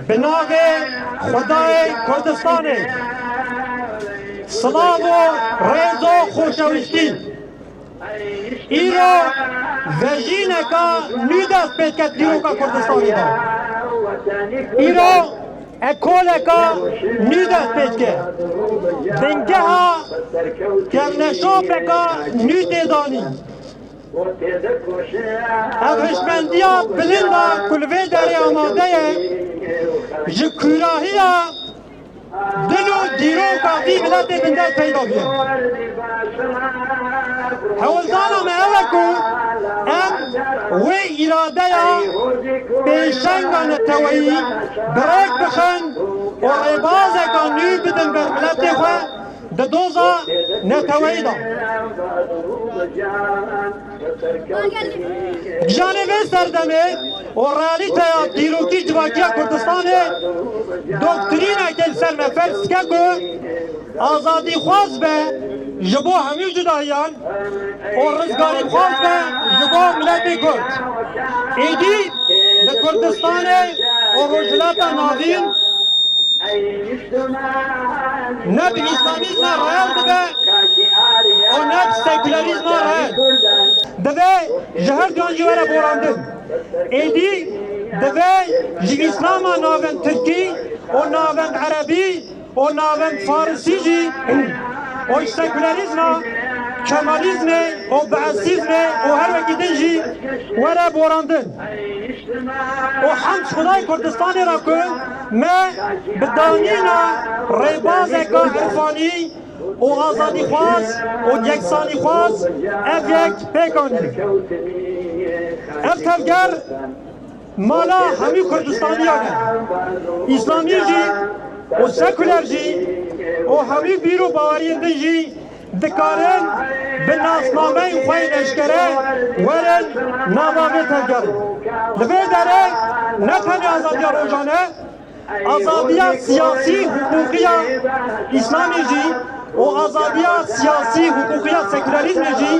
Bi navê Xwedayê Kurdistanê silav û rêz û xweşewîstî. Îro vejîneka nû dest pê dike dîroka Kurdistanê de. Îro ekoleka nû dest pê dike. Bingeha kevneşopeka nû tê danîn. Ev hişmendiya bilind a ku li vê derê amade ye, ji kûrahiya dil û dîroka vî miletê bin dest peyda bûye. Hewldana me ew e ku em wê îradeya pêşenga neteweyî bi rêk bixin û rêbazeka nû bidin ber miletê xwe, di doza neteweyî de. Giyanê vê serdemê û realîteya dîrokî civakiya Kurdistanê doktrîneke li ser me ferz dike ku azadîxwaz be ji bo hemû cudahiyan û rizgarîxwaz be ji bo miletê Kurd. Êdî li Kurdistanê û Rojhilata Navîn, Ne binîsanîzma reel dibe û ne sekûlerîzma reel. Dibe ji her duyan jî were borandin. Êdî dibe ji îslama navend tirkî û navend erebî û navend farisî jî û ji sekûlerîzma kemalîzmê û beesîzmê û her wekî din jî were borandin. Û hemd ji Xwedayê Kurdistanê re ku Me bi danîna rêbazeke irfanî û azadîxwaz û yeksanîxwaz ev yek pêk anî. Ev tevger mala hemû Kurdistaniyan e, Îslamî jî û sekuler jî û hemû bîr û baweriyên din jî. Dikarin bi nasnameyên xwe yên eşkere werin nava vê tevgerê. Li vê derê ne tenê azadiya rojane, azadiya siyasî, huquqiya Îslamê jî û azadiya siyasî, huquqiya sekûlerîzmê jî,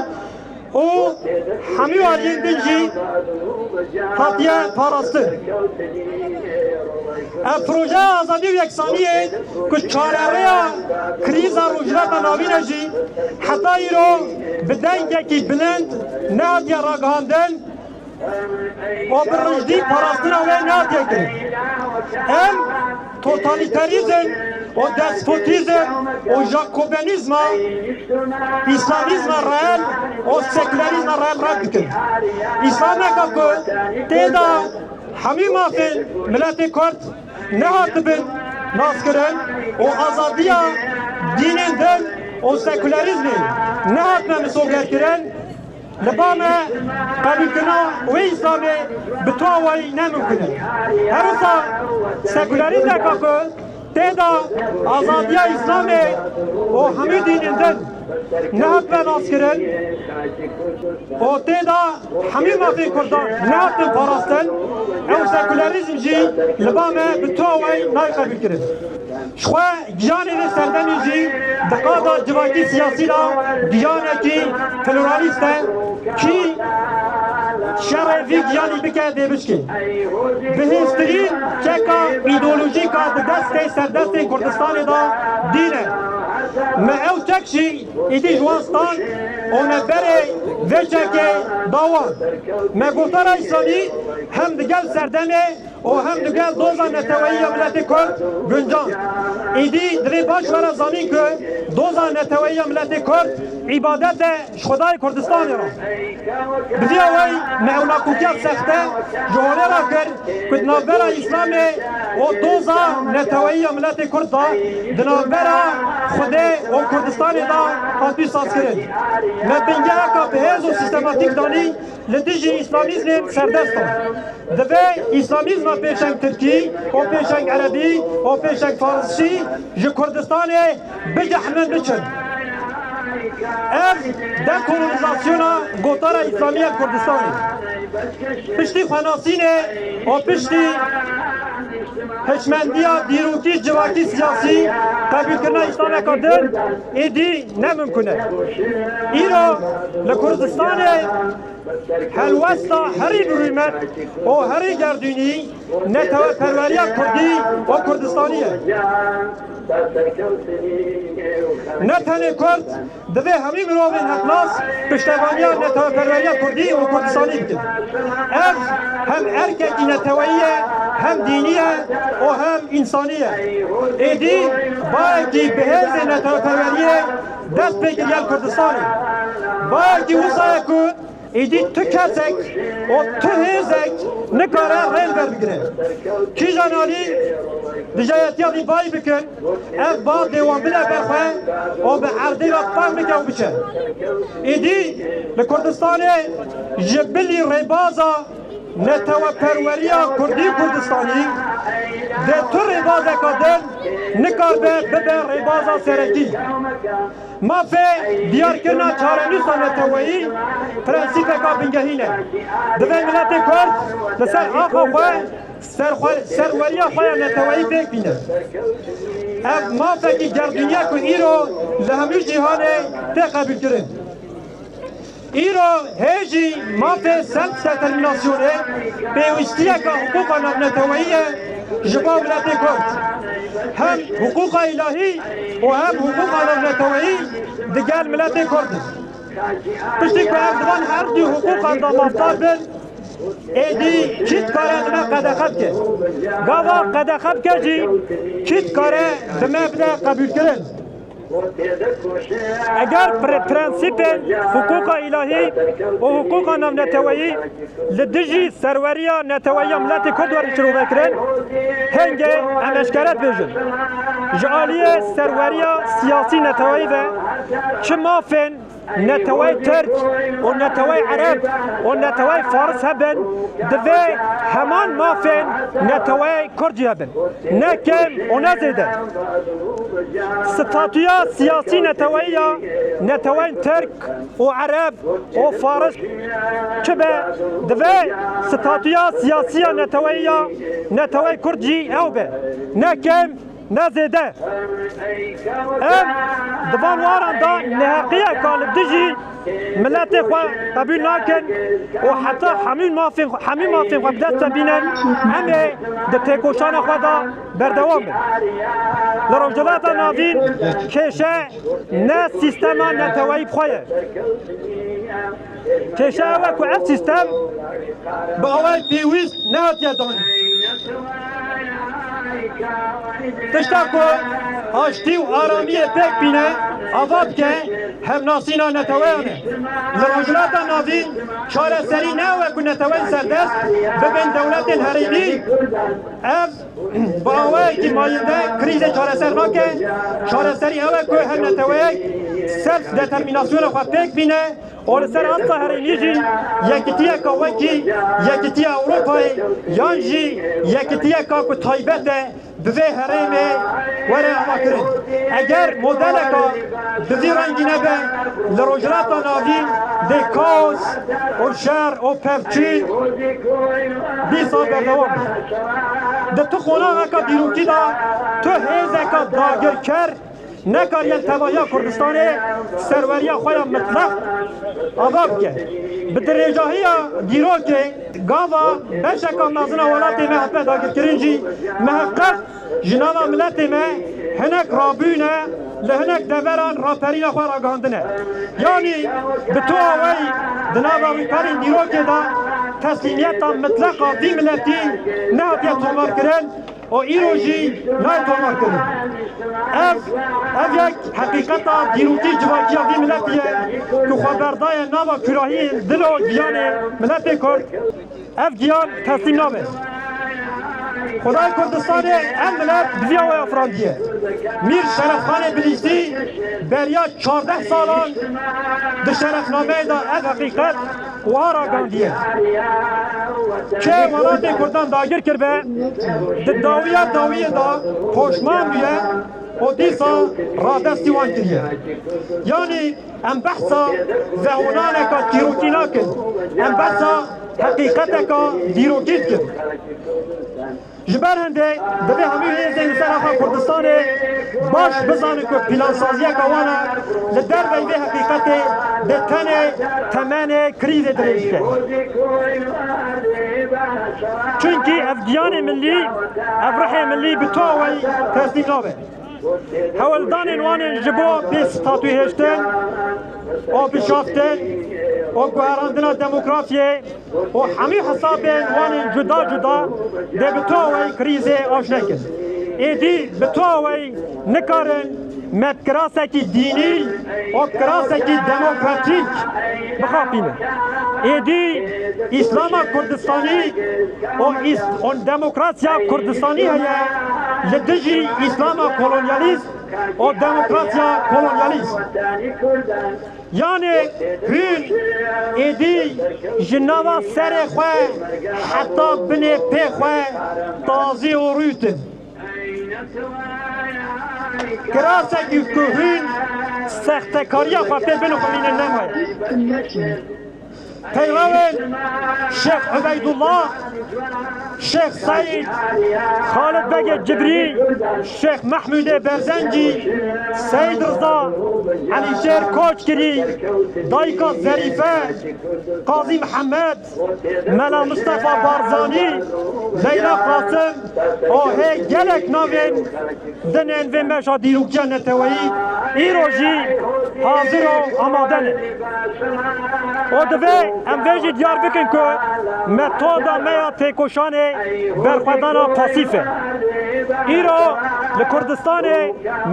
û hemû aliyên din jî hatiye parastin. Ev projeya azadî û yeksaniyê ku çarerêya krîza Rojhilata Navîn e jî heta îro bi dengekî bilind nehatiye ragihandin, Babir Rûjdî parastina wê nake kirin. Em totalîterîzm û despotîzm û jakobenîzma îslamîzma reel û sekûlerîzma reel red dikin. Îslameke ku tê de hemû mafên miletê Kurd nehatibin naskirin û azadiya dînên din û sekûlerîzmê nehatine misogerkirin, Li ba me qebûlkirina wê îslamê bi tu awayî ne mimkûn e. Her wisa sekûlerîzeka ku tê de azadiya îslamê û hemû dînên din nehatbe naskirin û tê de hemû mafên kurdan nehatin parastin, ew sekûlerîzm jî li ba me bi tu awayî nayê qebûlkirin. Ji xwe Giyanê vê serdemê jî di qada civakî siyasî de giyanekî pluralîst e. Kî şerê vî giyanî bike dê bişkê. Bi hêztirîn çeka îdeolojîk a di destê serdestên Kurdistanê de dîn e. Me ew çek jî îdî ji wan stand û me berê vê çekê da wan. Me Guhdarayî Sanî hem digel serdemê, û hem li gel doza neteweyî ya miletê Kurd guncan. Êdî divê baş were zanîn ku doza neteweyî ya miletê Kurd îbadet e ji Xwedayê Kurdistanê re. Bi vîya wey me ew nakokiya sexte ji holê re kir ku di navbera Îslamê û doza neteweyî ya miletê Kurd de di navbera Xwedê û Kurdistanê de hatiye sazkirin. Me bingeheka bi hêz û sîstematîk danî. Li dijî îslamîzmên serdest in. Divê îslamîzma pêşeng tirkî û pêşeng erebî û pêşeng farsî ji Kurdistanê bicehnin biçin. Ev dekolonizasyona gotara îslamî ya Kurdistanê piştî xwenasînê û piştî hişmendiya dîrokî, civakî, siyasî qebûlkirina îslameke din, Êdî ne mimkun e. Îro li Kurdistanê helwesta herî birûmet û herî gerdûnî neteweperweriya Kurdî û Kurdistanî ye. Ne tenê Kurd divê hemî mirovên hevnas piştevaniya neteweperweriya Kurdî û Kurdistanî bikin. Ev hem erkekî neteweyî ye, hem dînî ye û hem însanî ye. Êdî Bayekî bi hêzên neteweperweriyê dest pê kir gel Kurdistanê. Bayekî wisa ye ku êdî tu kesek û tu hêzek nikare rê li ber bigire. Kîjan alî dijayetiya vî bayî bikin, ev ba dê wan bide ber xwe û bi erdê ve fehm bike û biçe. Êdî li Kurdistanê ji bilî rêbaza. Neteweperweriya Kurdî û Kurdistanî dê tu rêbazeke din nikaribe bibe rêbaza serekî. Mafê diyarkirina çarenûsa neteweyî prensîpeka bingehîn e. Divê miletê Kurd li ser axa xwe serweriya xwe ya neteweyî pêk bîne. Ev mafekî gerdûnî ye ku îro li hemû cîhanê tê qebûlkirin. Îro hê jî mafê selfdetermînasyonê pêwîstiyeke hiqûqa navneteweyî ye ji bo miletê Kurd. Hem hiqûqa îlahî û hem hiqûqa navneteweyî di gel miletê Kurd in. Piştî ku ev di van her dû hiqûqan de mafdar bin, êdî kî dikare li me qedexe bike? Gava qedexe bike jî kî dikare bi me bide qebûlkirin? Eger prensîpên hiqûqa îlahî û hiqûqa navneteweyî li dijî serweriya neteweyî ya miletê Kurd werin şirovekirin, hingê em eşkere dibêjin, ji aliyê serweriya siyasî neteweyî ve çi mafên Neteweyê Tirk û neteweyê Ereb û neteweyê Faris hebin, divê heman mafên neteweyê Kurdî hebin, ne kêm û ne zêde. Statûya siyasî neteweyî ya neteweyên Tirk û Ereb û Faris çi be, divê statûya siyasî ya neteweyî ya neteweyê Kurdî ew be, ne kêm Ne zêde. Em di van waran de neheqiyeke li dijî miletê xwe qebûl nakin û heta hemû mafên hemû mafên xwe bi dest de bînin em ê di têkoşana xwe de berdewam bin. Li Rojhilata Navîn kêşe ne sîstema neteweyî bi xwe ye. Kêşa ew e ku ev sîstem bi awayek pêwîst nehatiye danîn. Tişta ku aştî û aramiyê pêk bîne ava dike hevnasîna neteweyan e. Li Rojhilata Navî çareserî ne ew e ku neteweyên serdest bibên dewletên herêmî. Ev Bi awayekî mayînde krîzê çareser nake, çareserî ew e ku her neteweyek serf determînasyona xwe pêk bîne û li ser asta herêmî jî yekitiyeke wekî Yekitiya Ewropayê yan jî yekitiyeke ku taybet e bi vê herêmê were avakirin. Eger modeleke Bi vî rengî nebe li Rojhilata Navîn dê kaos û şer û pevçî bîst sal berdewam be. Di tu qonaxeke dîrokî de tu hêzeke dagirker nekariye li tevahiya Kurdistanê serweriya xwe ya mitleq ava bike. Bi dirêjahiya dîrokê gava beşeke mezin a welatê me hatine dagirkirin jî miheqeq Ji nava miletê me hinek rabûne li hinek deveran raperîna xwe ragihandine. Yanî bi toa wey di nava wî perên dîrokê de teslîmiyeta mitleqa vî miletî nehatiye tomarkirin û îro jî nayê tomarkirin. Ev ev yek heqîqeta dîrokî civakiya vî miletî ye ku xwe berdaye nava kûrahiyên dil û giyanê miletê Kurd. Ev giyan teslîm nabe. Xwedayê Kurdistanê ev milet bi vî awaya firandiye. Mîr Şerefxanê Bilîcdî beriya çardeh salan di şerefnameyê de ev heqîqet wiha ragihandiye, Ke welatê Kurdan dagir kiribe, di dawiya dawiyê de poşman bûye û dîsa radestî wan kiriye. Yanî Em behsa veholaneka çîrokî nakin, em behsa heqîqeteka dîrokî dikin. Ji ber hende divê hemû hêzên li ser axa Kurdistanê baş bizanin ku pîlansaziyeka wan e li derveyî vê heqîqetê dê tenê temenê krîzê dirêj bike. Çunkî ev giyanê millî, ev ruhê millî bi tu awayî teslîm nabe. Hewldanên wan ên ji bo pêkstatûhêştin û bişaftin û guherandina demokrasiyê û hemû hesabên wan ên cuda cuda dê bi tuaweyî krîzê aşne kin. Êdî bi tuaweyî nikarin me bi kirasekî dînî û kirasekî demokratîk bixapînin. Êdî. Îslama Kurdistanî û Demokrasiya Kurdistanî heye li dijî Îslama Kolonyalîst û Demokrasiya Kolonyalîst. Yanê hûn êdî ji nava serê xwe heta binê pê xwe tazî û rût in. Kirasekî ku hûn sextekariya xwe pê binixwînin nemaye. Peyrevên Şêx Hubeydullah, Şêx Seîd, Xalid Begê Cibrî, Şêx Mehmûdê Berzencî, Seîd Riza, Elîşêr Koçgirî, Dayika Zerîfe, Qazî Mihemed, Mela Mistefa Barzanî, Leyla Qasim, Ahê gelek navên din ên vê meşa dîrokiya neteweyî îro jî hazir û amade ne. Û divê em vê jî diyar bikin ku metoda me ya têkoşanê berxwedana pasîf e. Îro li Kurdistanê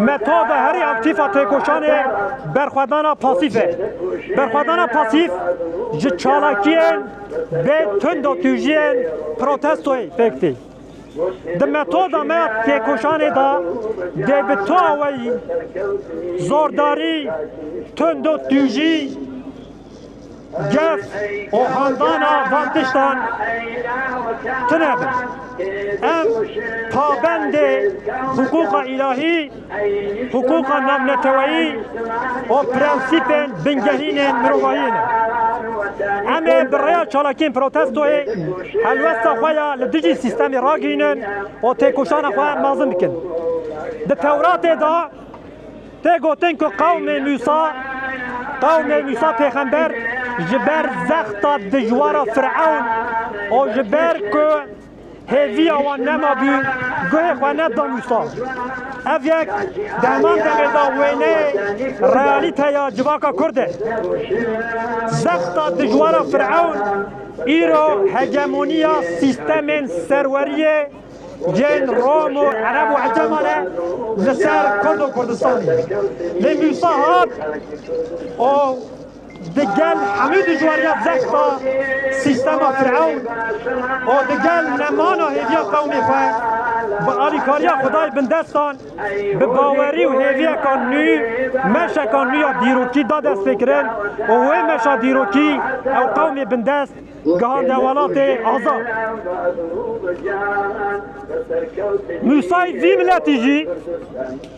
metoda herî aktîf a têkoşanê berxwedana pasîf e. Berxwedana pasîf ji çalakiyên Bê tunda tûjiyên protestoyê pêk tê. Di metoda me ya têkoşanê de dê bi toa we yî, zordarî, tunda tûjî, gef û handana van tiştan tune bin. Em pabendê hiqûqa îlahî, Hiqûqa navneteweyî û prensîpên bingehîn ên mirovahiyê ne. Em ê bi rêya çalakiyên protestoyê helwesta xwe ya li dijî sîstemê ragihînin û têkoşana xwe mezin bikin. Di Tewratê de tê gotin ku qewmê Mûsa, qewmê Mûsa pêxember ji ber zexta dijwara Firewn û ji ber ku Hêviya wan nema bî, guhê xwe ne damûsta. Ev yek di heman demê de wêneyê realîteya civaka kurd e. Zexta dijwara Firewn îro hegemoniya sîstemên serweriyê yên Rom û Ereb û Eceman e li ser Kurd û Kurdistanê. Lê Mûsa hat û. Digel hemû dijwariya zexta sîstema firewn û digel nemana hêviya qewmê xwe, bi alîkariya Xwedayê bindestan, bi bawerî û hêviyeka nû meşeka nû ya dîrokî da destpêkirin û wê meşa dîrokî ew qewmê bindest gihande welatê azad. Musayî vî miletî jî.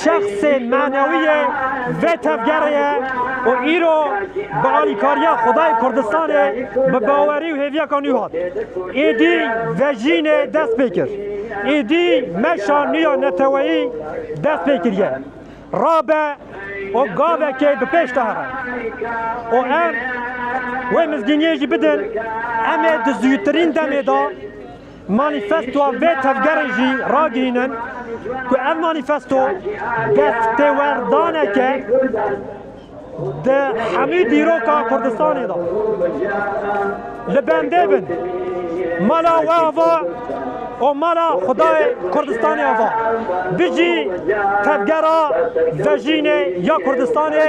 Şexsê manewî yê vê tevgerê ye û îro bi alîkariya Xwedayê Kurdistanê bi bawerî û hêviyeka nû hat. Êdî vejînê dest pê kir. Êdî meşa nû ya neteweyî dest pê kiriye. Rabe û gavekê bi pêş de here û em wê mizgîniyê jî bidin. Em ê di zûtirîn demê de Manîfestoa vê tevgerê jî ragihînin ku ev manîfesto destêwerdanek e di hemû dîroka Kurdistanê de. Li bendê bin, mala we ava û mala xwedayê Kurdistanê ava. Bijî tevgera vejînê ya Kurdistanê!